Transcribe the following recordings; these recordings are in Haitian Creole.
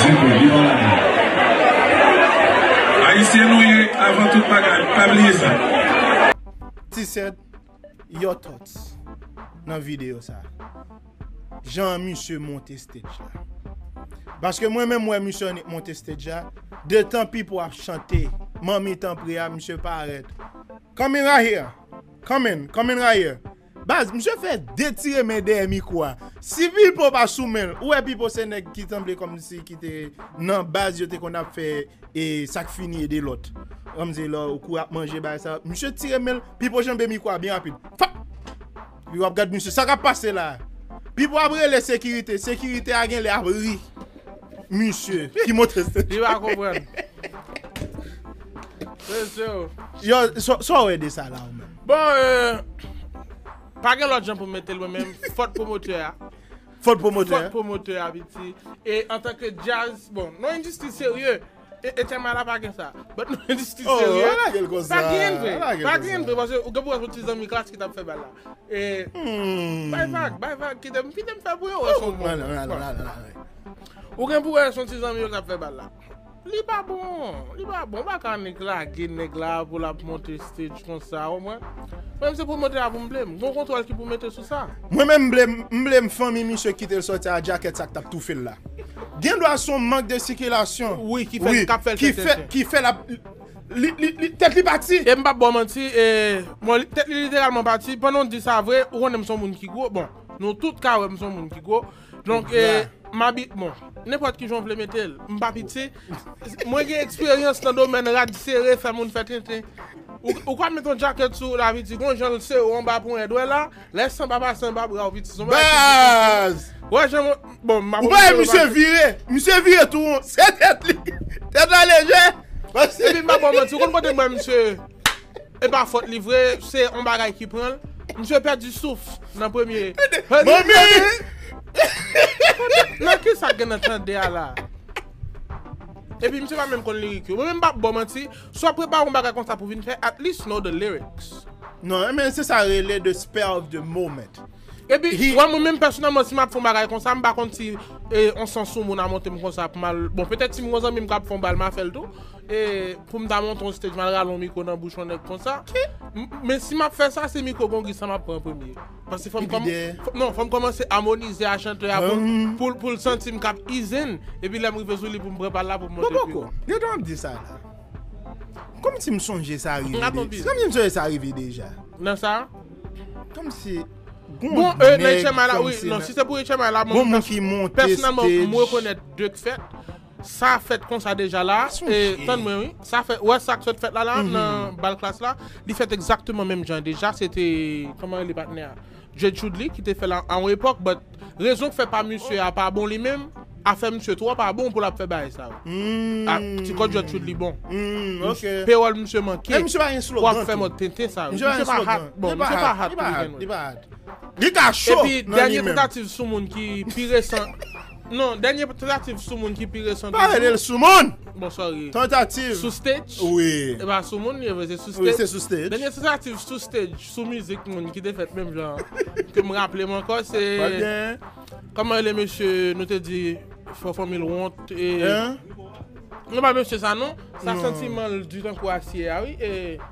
di pou li nan lavi. Ayisyen nou ye avan tout bagay pa bliye sa. T-set your thoughts nan video sa. Jan misye monte stage la. Paske mwen menm wè misye annik monte stage la, detan Pipo ap chante manmi tanpri a misye parèt. Coming right here. Coming, coming right here. Baz, misye fè detire men dèyè mikro a. Si Pipo pa sou men l, ou wè Pipo se nèg ki sanble kòmsi ki te nan baz yo te konn ap fè e sa k fini ede lòt. Kòmsi lè w kou ap manje bagay sa, misye tire men l, Pipo janbe mikro a byen rapid. Fap! Pipo ap gad misye, sa k ap pase la a? Pipo ap rele sekirite, sekirite a genlè ap ri misye ki monte sèn. Li pa konprann. Mesye o! Yo, sa w wè de sa la ou menm? Bon euh pa gen lòt jan pou m mete l mwen menm, fòt pwomotè a. Fòt pwomotè a. Fòt pwomotè a piti. E antanke djaz, bon nou endistri serye, Etienne Mala pa gen sa. But nou endistri serye. Oh, pa lage l konsa. Pa gen vre. Pa lage l konsa. Pa gen vre paske ou gen pou wè son ti zanmi klas ki t ap fè bal la. E Humm. Bay vag, bay vag kite m, kite m fè pou yo wè si yo bon. Bon, nan, nan, nan, nan, nan. Ou gen pou wè son ti zanmi yo k ap fè bal la. Li pa bon, li pa bon, pa kanik lage nèg la pou lap monte stage konsa ou mwen menm se pwomotè a pou m blem, gon kontwòl ki pou mete sou sa. Mwen menm m blem, m blem fanmi misye kite l sòti a djakèt sa k tap toufe l la. Gen dwa son mank de sikilasyon wi ki fè kap fè l tenten tenten wi ki fè lap li li li tèt li pati. E m pap ba w manti e bon tèt li literalman pati, pandan w di sa vre ou konnen m son moun ki gwo, bon nou tout ka wè m son moun ki gwo, Donk e mabi bon nenpòt kijan w vle mete l m pa pitye mwen gen eksperyans nan domèn rad sere fè moun fè tenten ou ka met yon djakèt sou laviti gon jan l sere w anba ponyè dwèt la lè san pa pase anba bra w piti son bagay ki difisil ou wè jan bon m pa wè jan misye vire misye vire tou won se tèt li tèt la lejè epi m pa bò w manti ou konn kote m wè misye. E pa fòt li vre, se yon bagay ki pran l. Misye pèdi souf nan premye. Nan ki sa gen nan tande a la? E pi misye pa menm konn lirik yo. Mwen menm m pap baw manti, si w ap prepare yon bagay konsa pou vin fè, at least know the lyrics. Non, men se sa rele the spell of the moment. E pi, wè mwen menm pèsonèlman si m ap fè yon bagay konsa, m pa konn si yon sans soumoun a monte m konsa pou m al, bon petèt si m gen yon zanmi m k ap fè yon bal m a fè l tou. E poum ta monte yon stage mal rale yon mikro nan bouch yon nèg konsa. Men si map fè sa se mikro gongi sa map pran premye. Paske fòm kòm non fòm kòmanse amonize a chantè a poul poul santim kap izen epi lèm rive sou li poum pran pal la poum monte pi wo. Gade wap di sa la. Kòmsi m sonje sa rive deja. Kòmsi m sonje sa rive deja. Nan sa? Kòmsi gon nèg kòmsi nan. Bon e nan HMI la wi non si se pou HMI la mwen pèsonèlman m rekonèt 2 k fèt. Sa fèt konsa deja la, e tann mwen wi, sa fèt, ou wè sa k sot fèt la la nan bal klass la, li fèt egzakteman menm jan deja, se te, kòman rele patnè a, Djed Choudly ki te fè l a yon epòk, but rezon k fè pa misye a pa bon li menm, afè misye twò pa bon pou l ap fè bagay sa yo. A, ti kò Djed Choudly bon. Payroll misye manke pou ap fè mòd tenten sa yo. Misye pa hat, bon, misye pa hat pou li gen nou. Li ka cho nan li menm. Epi dènye tantativ sou moun ki pi resan. Non, dènye tantativ sou moun ki pi resan toujou. Pa rele l sou moun! Bon, sorry. Tantativ. Sou stage. Wi. E pa sou moun li ye vre, se sou stage. Wi, se sou stage. Dènye tantativ sou stage, sou mizik moun ki te fèt menm jan an, ke m raple m ankò se. Pa gen. Kòman rele mesye nou te di fò fanmil wont e. Hein? Non pa mesye sa non. Sa santiman l di tankou asye a wi e.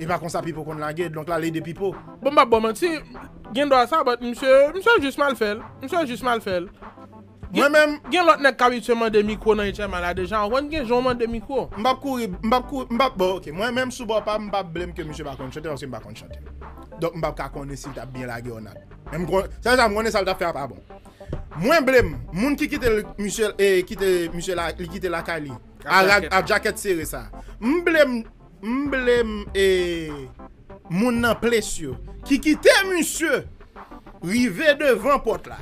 Epa konsa pipo konn lage donk lal ede pipo. Bon m pap baw manti gen dwa sa but misye misye jis mal fèl misye jis mal fèl Mwen menm. Gen lòt nèg k abitye mande mikwo nan HMA la deja ou konn gen jan ou mande mikwo. M pap kouri m pap kouri m pap bon ok mwen menm sou bò pam m pap blame ke misye pa konn chante paske m pa konn chante donk m pap ka konnen si l tap byen lage or not men m konnen sèl sa m konnen sa l tap fè a pa bon mwen blame moun ki kite l misye e kite misye la li kite lakay li a rad a djakèt sere sa m blame M blem e Moun nan place yo ki kite misye rive devan pot la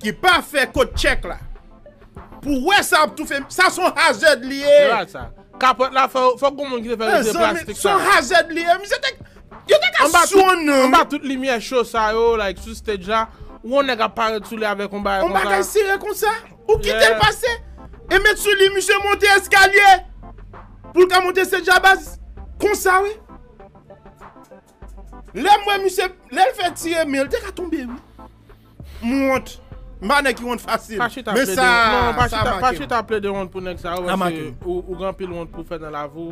ki pa fè kot check la pou wè sa ap toufe misye sa son hazard li ye. Epa sa. Kapot la fè fok gon moun ki te fè li se plastik sa. Son hazard li ye misye te yo te ka sonnenl wi. Anba tout limyè cho sa yo like sou stage la ou wè yon nèg ap parèt sou li avèk yon bagay konsa. Yon bagay sere konsa. Ou kitel pase e met sou li misye monte eskalye pou l ka monte se djabaz konsa wi. Lè m wè misye lè l fè ti reme l te ka tonbe wi. M wont. M pa nèg ki wont fasil. Pa chita plede wont. Non, sa make m. Pa chita plede wont pou nèg sa yo paske ou gen anpil wont pou fè nan lavi w.